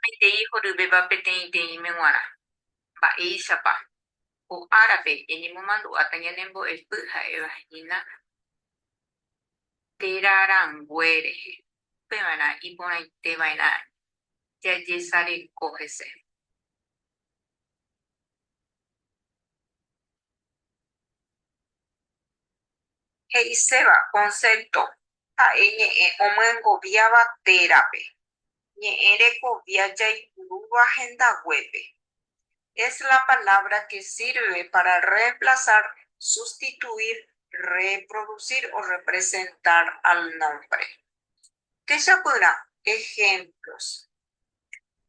Peteĩ horyvéva peteĩteĩme g̃uarã. Mba'éichapa? Ko árape eñemomandu'áta ñanembo'epy ha'éva hína téra rangue rehe, upeva'erã iporãiteva'erã jajesareko hese. he'iséva konsépto ha'e ñe'ẽ omyengoviáva térape, ñe'ẽ rekovia jaipurúva hendaguépe. Es la palabra que sirve para reemplazar, sustituir, reproducir o representar al nombre. Techapyrã ejemplos.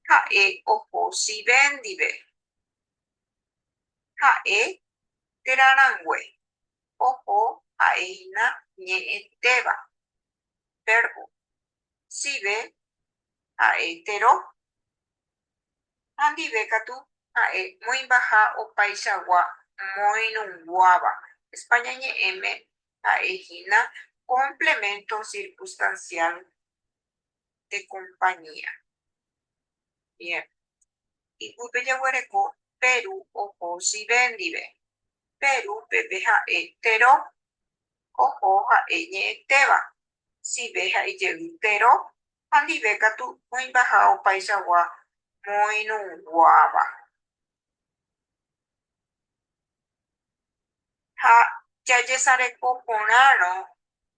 Ha'e oho Sive ndive. Ha'e térã rangue, oho ha'e hína ñe'ẽtéva, vérbo, sive ha'e tero, ha ndive katu ha'e moĩmbaha opaichagua moirũnguáva, España ñe'ẽme ha'e hína complemento circunstancial de compañía. Bien. Ipype jaguereko Peru oho sive ndive. Peru peve ha'e tero, oho ha'e ñe'ẽtéva, sive ha'e jey tero ha ndive katu oĩmbaha opaichagua moirũguáva. Ha jajesareko porãrõ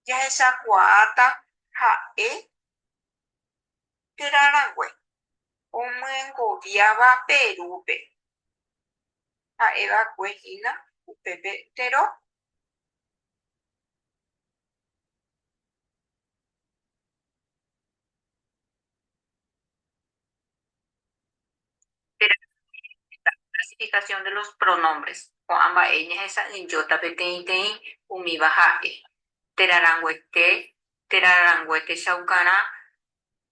jahechakuaáta ha'e térã rangue omyengoviáva Perúpe, ha'e va'ekue hína upépe tero. Clasificación de los pronombres Ko'ã mba'e ñahesa'ỹijóta peteĩteĩ umíva ha'e, térã ranguete, térã rarangue techaukarã,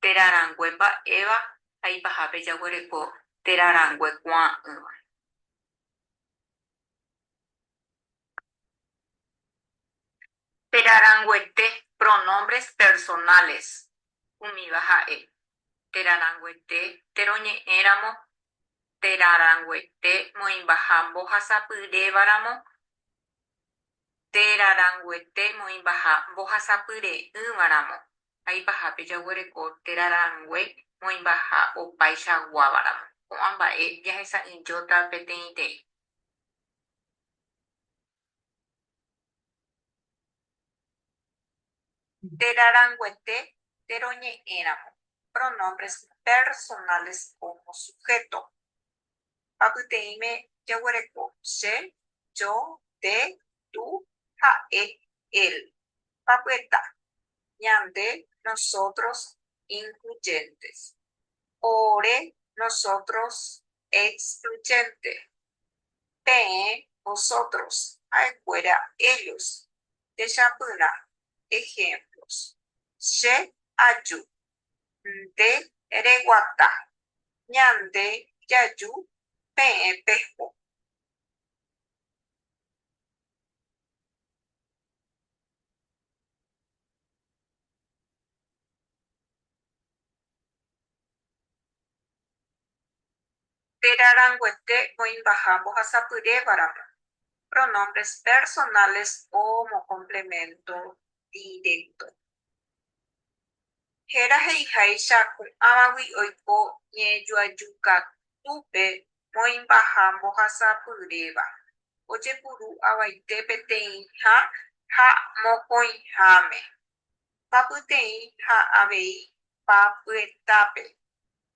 térã rangue mba'éva ha ipahápe jaguereko térã rangue kuaa'ỹva. Térã ranguete Pronombres personales umíva ha'e, térã ranguete teroñe'ẽ ramo, térã ranguete moĩmbaha mbohasapyréva ramo, térã ranguete moĩmbaha mbohasapy re'ỹva ramo, ha ipahápe jaguereko térã rangue moĩmbaha opáicha guáva ramo. Ko'ã mba'e jahesa'ỹijóta peteĩteĩ. Nde raranguete nde roñe'ẽramo pronombres personales como sujeto, ha pyteĩme jaguereko che, yo, nde, tú, ha'e, él, ha pyeta ñande, nosotros, incluyentes, ore, nosotros, excluyente, peẽ, vosotros, ha'ekuéra, ellos, techapyrã, ejemplos, che aju, nde reguata, ñande jaju, peẽ peho. Térã ranguete oĩmbaha mbohasapyrévaramo, pronombres personales o mo complemento directo. Héra he'iháicha ko'ãvagui oiko ñe'ẽjoaju katúpe moĩmbaha mbohasapyréva, ojepuru avaite peteĩha ha mokõiháme, papyteĩ ha avei papyetápe.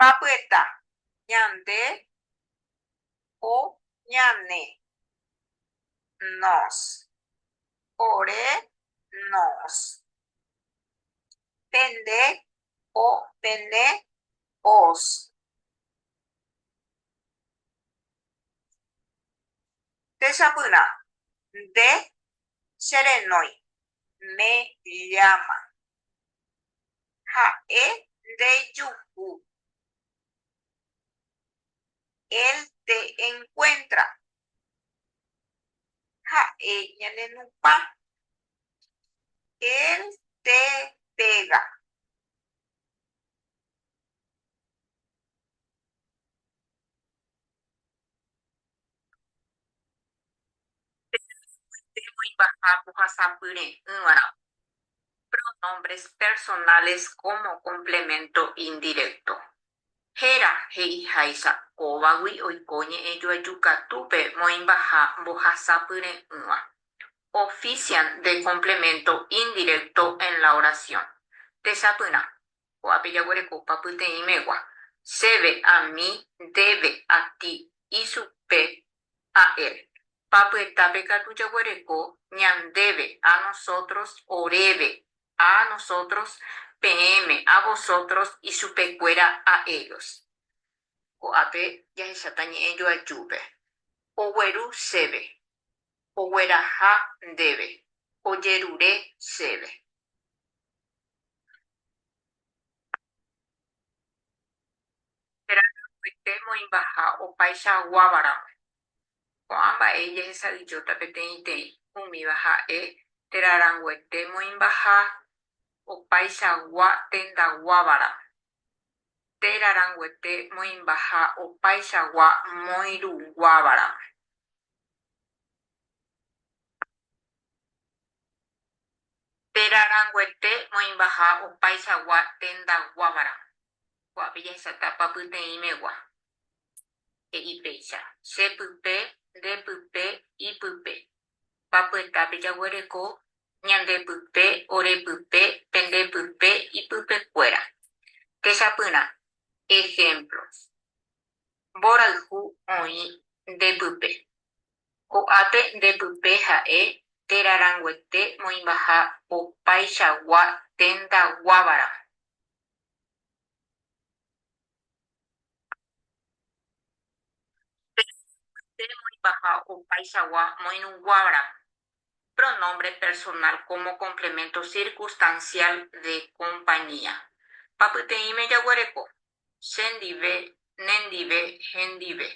Papyta, ñande o ñane. Nos, ore, nos. Pende o pene, os. Techapyrã, nde cherenói, me llama. Ha'e ndejuhu. Él te encuentra. Ha'e ñanenupã. Él te pega. Térã ra'ykuéntema oimbaha ohasapyre'ỹva'erã pronombres personales como complemento indirecto. Héra he'iháicha kóvagui oiko ñe'ẽjoajukatúpe moĩmbaha mbohasapyre'ỹva. Ofician de complemento indirecto en la oración. Techapyrã, Ko'ápe jaguerekopa pyteĩmegua, chéve, ami, ndéve, ati, ichupe, a él. Papyetápe katu jaguereko, ñandéve, a nosotros, oréve, a nosotros, peẽme, a vosotros, ichupekuéra, a ellos. Ko'ápe jahecháta ñe'ẽ joajúpe, ogueru chéve, ogueraha ndéve, ojerure chéve. Térã katuete moĩmbaha opaicha aguáva ramẽ. Ko'ã mba'e jehesadijóta peteĩteĩ, umíva ha'e, térã ranguete moĩmbaha opaicha agua tendaguáva ramẽ. Térã ranguete moĩmbaha opaicha agua moirũguáva ramẽ. Térã ranguete moĩmbaha opaichagua tenda guávara, ko'ápe jahechatápa pyteĩmegua, he'i péicha, che pype, nde pype, ipype. Papyetápe jaguereko ñande pype, ore pype, pende pype, ipype kuéra. Techapyrã, ehémplo, Mborayhu oĩ nde pype. Ko'ápe nde pype ha'e téra ranguete moĩmbaha opaichagua ténta guáva ramo. Téra ranguete moĩmbaha opaichagua moirũ guáva ramo. Pronombre personal como complemento circunstancial de compañía. Papyteĩme jaguereko. che ndive, ne ndive, hendive.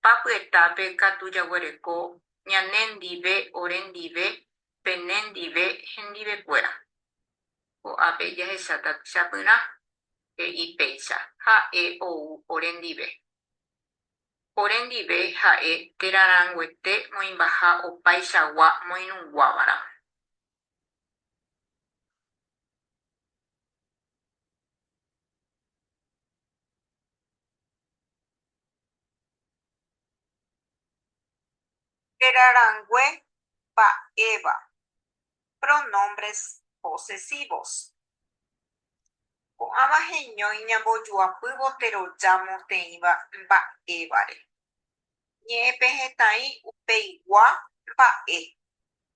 Pa py'etápe katu jaguereko ñane ndive, ore ndive, pene ndive, hendive kuéra. Ko'ápe jahecháta techapyrã, he'i péicha, ha'e ou ore ndive. Ore ndive ha'e térã rãnguete moĩmbaha opaichagua moirũguávaramo. Héra rangue mba'éva. Pronombres posesivos. Ko'ãva heñói ñambojoapývo teroja moteĩva mba'évare. Ñe'ẽpehẽtai upeigua mba'e.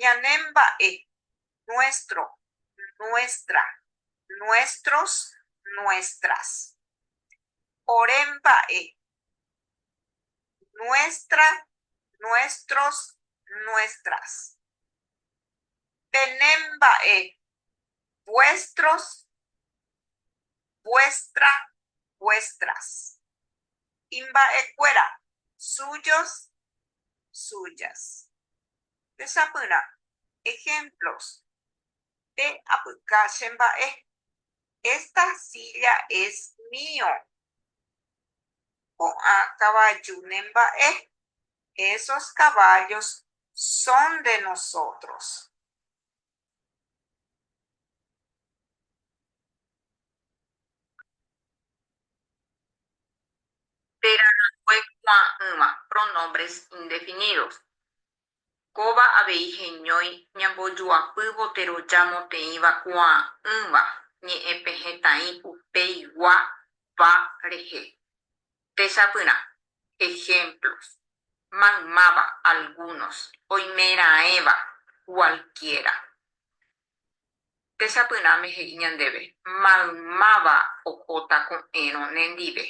Ñane mba'e, nuestro, nuestra, nuestros, nuestras. Ore mba'e, nuestra, nuestros, nuestras. Pene mba'e, vuestros, vuestra, vuestras. Imba'ekuéra, suyos, suyas. Tesapyrã ejemplos, Pe apyka che mba'e, Esta silla es mío. Ko'ã kavaju ne mba'e, Esos caballos son de nosotros. Térã ranggue kuaa'ỹva, pronombres indefinidos. Kóva avei heñói ñambojuapývo teroja moteĩva kuaa'ỹva ñe'ẽpehẽtaĩ upeigua, va, rehe. Techapyrã, ejemplos, maymáva, algunos, oimeraẽva, cualquiera. Techapyrãme he'i ñandéve, Maymáva ohóta ko'ẽrõ nendive.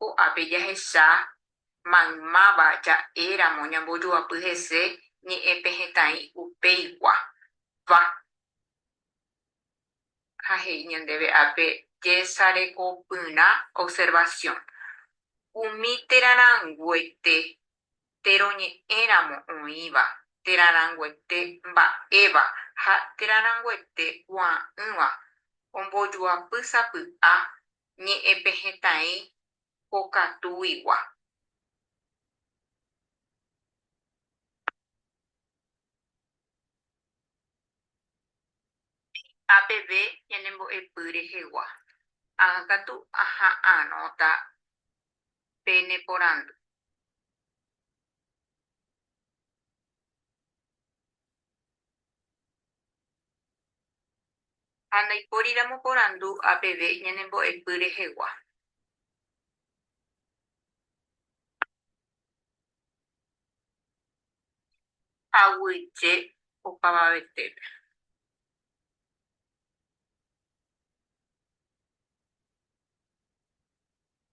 Ko'ápe jahecha maymáva ja'éramo ñambojoapy hese ñe'ẽpehẽtaĩ upeigua, va. ha he'i ñandéve ápe jesarekopyrã observación, umi térã ranguete térõ ñe'ẽ ramo oĩva, térã ranguete mba'éva ha térã ranguete kuaa'ỹva ombojuapy sapy'a ñe'ẽpehẽtaĩ pokatuigua. Ehecha peve ñanembo'epy rehegua. Ág̃a katu aha'arõta pe ne porandu. Ha ndaipóriramo porandu a peve ñanembo'epy rehegua. Aguyje opavavetépe.